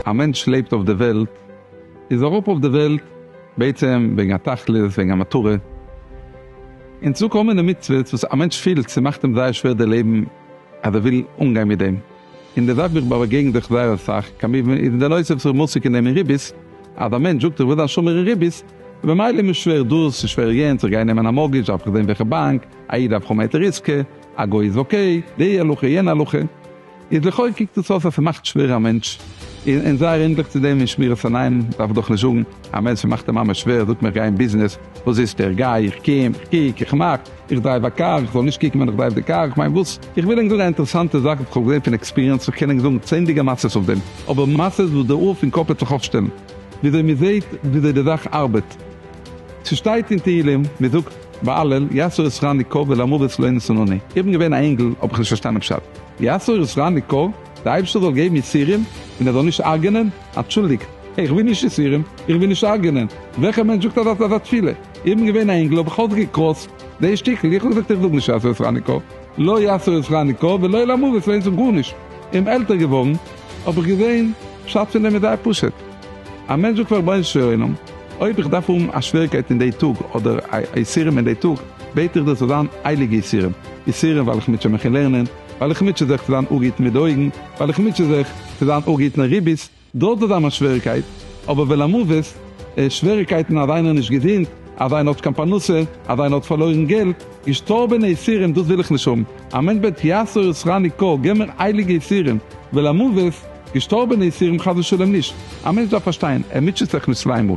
א מענטש לעבט אויף די וועלט, איז אראפ אויף די וועלט בעצם וועגן א תכלית, וועגן א מטרה. און צו קומען אין מצוות וואס א מענטש פילט ס'מאכט אים זייער שווער די לעבן אז ער וויל אנגיין מיט דעם. אין די זאך ווי איך באגעגן זיך זייער אסאך, כמובן איז אין די נושא וואס איך בין עוסק אין דעם אין ריבית, אז א מענטש זאגט איך וויל זיין שומר אין ריבית, און במילא איז מיר שווער דאס, און שווער יענץ, איך גיי נעמען א מארגעדזש דארף איך זען וועלכע באנק, א איד דארף האבן א היתר עיסקא, א גוי איז אקעי, די הלכה יענע הלכה, איז לכאו' קוקט דאס אויס אז ס'מאכט שווער א מענטש, און און זייער ענדליך צו דעם אין שמירת עיניים דארף איך דאך נישט זאגן, א מענטש וואס מאכט אים ממש שווער, זאגט מען איך גיי אין ביזנעס, וואס זיצט ער, איך גיי, איך קום, איך קוק, איך מאך. איך דרייוו א קאר, איך זאל נישט קוקן ווען איך דרייוו די קאר, איך מיין וואס? איך וויל ענק זאגן א אינטערעסאנטע זאך וואס איך האב געזען פון עקספיריענס, איך קען ענק זאגן צענדליגע מעשות אויף דעם, אבער מעשות וואס די האר פון קאפ וועט זיך אויפשטעלן, וויאזוי מען זעהט וויאזוי די זאך ארבעט. ס'שטייט אין תהילים, מען זאגט באלול יסור יסרני כה ולמוות לא ינסונוני, איך בין געווען א אינגל האב איך נישט פארשטאנען פשט, יסור יסרני כה? די אייבערשטער זאל געבן יסורים און ער זאל נישט הרג'נען? אנטשולדיגט, איך וויל נישט יסורים, איך וויל נישט הרג'נען, וועלכע מענטש זאגט אזא תפילה? איך בין געווען א אינגל האב איך אויסגעקראסט די שטיקל, איך האב געזאגט איך זאג נישט יעשו את חנוכה, לא יעשו את חנוכה ולא למות ס'מיינט זאג גארנישט, און עלטער געווארן האב איך געזען פשט פון דעם איז זייער פשוט, א מענטש זאגט פאר רבונו של עולם אויב איך דארף האבן א שוועריקייט אין די טאג אדער א יסורים אין די טאג בעט איך דיר ס'זאל זיין הייליגע יסורים, יסורים ווייל איך מוטשע מיך אין לערנען, ווייל איך מוטשע זיך צו זיין א גוט מיט די אויגן, ווייל איך מוטשע זיך צו זיין א גוט אין ריבית, דארט איז אמאל שוועריקייט, אבער ולמוות, שוועריקייטן אז איינער איז נישט געזונט, אז איינער האט קיין פרנסה, אז איינער האט פארלוירן געלט, געשטארבענע יסורים דאס וויל איך נישט האבן, א מענטש בעט יסור ישרני קא, געב מיר הייליגע יסורים, ולמוות, געשטארבענע יסורים חס ושלום נישט, א מענטש דארף פארשטיין, ער מוטשעט זיך נישט צוויי מאל.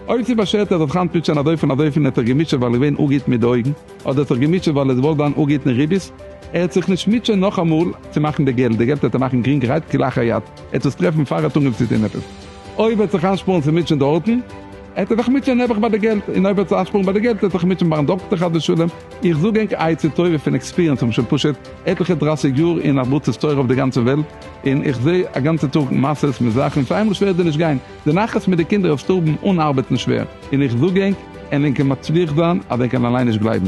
אויב ס'איז באשערט ער זאל זיך היינט מוטשען אזויפיל און אזויפיל און ער האט זיך געמוטשעט ווייל ער איז געווען אנגעהיט מיט די אויגן, אדער ער האט זיך געמוטשעט ווייל ער איז געוואלט זיין אנגעהיט אין רביס, ער וועט זיך נישט מוטשען נאכאמאל צו מאכן די געלט, די געלט וועט ער מאכן גרינגערהייט כלאחר יד. ער האט עס טרעפן פאר ער האט אנגעהויבן צו טון עפעס. אויב ער האט זיך אנשפארן צו מוטשען דארטן, העט ער זיך מוטשען נעבעך ביי די געלט, און אויב ער האט זיך אנשפארן ביי די געלט, העט ער זיך מוטשען ביים דאקטער חס ושלום. איך זאג ענק עצה טובה פון עקספיריענס, כ'בין שוין פשוט עטליכע דרייסיג יאר אין הרבצת תורה אויף די גאנצע וועלט, און איך זעה א גאנצע טאג מעשות מיט זאכן, פאר איינמאל שווערט דיר נישט גיין, די נחת מיט די קינדער אויף שטארבן אן ארבעטן שווער, און איך זאג ענק, ענק קען מצליח זיין אז ענק קען אליין נישט גלייבן.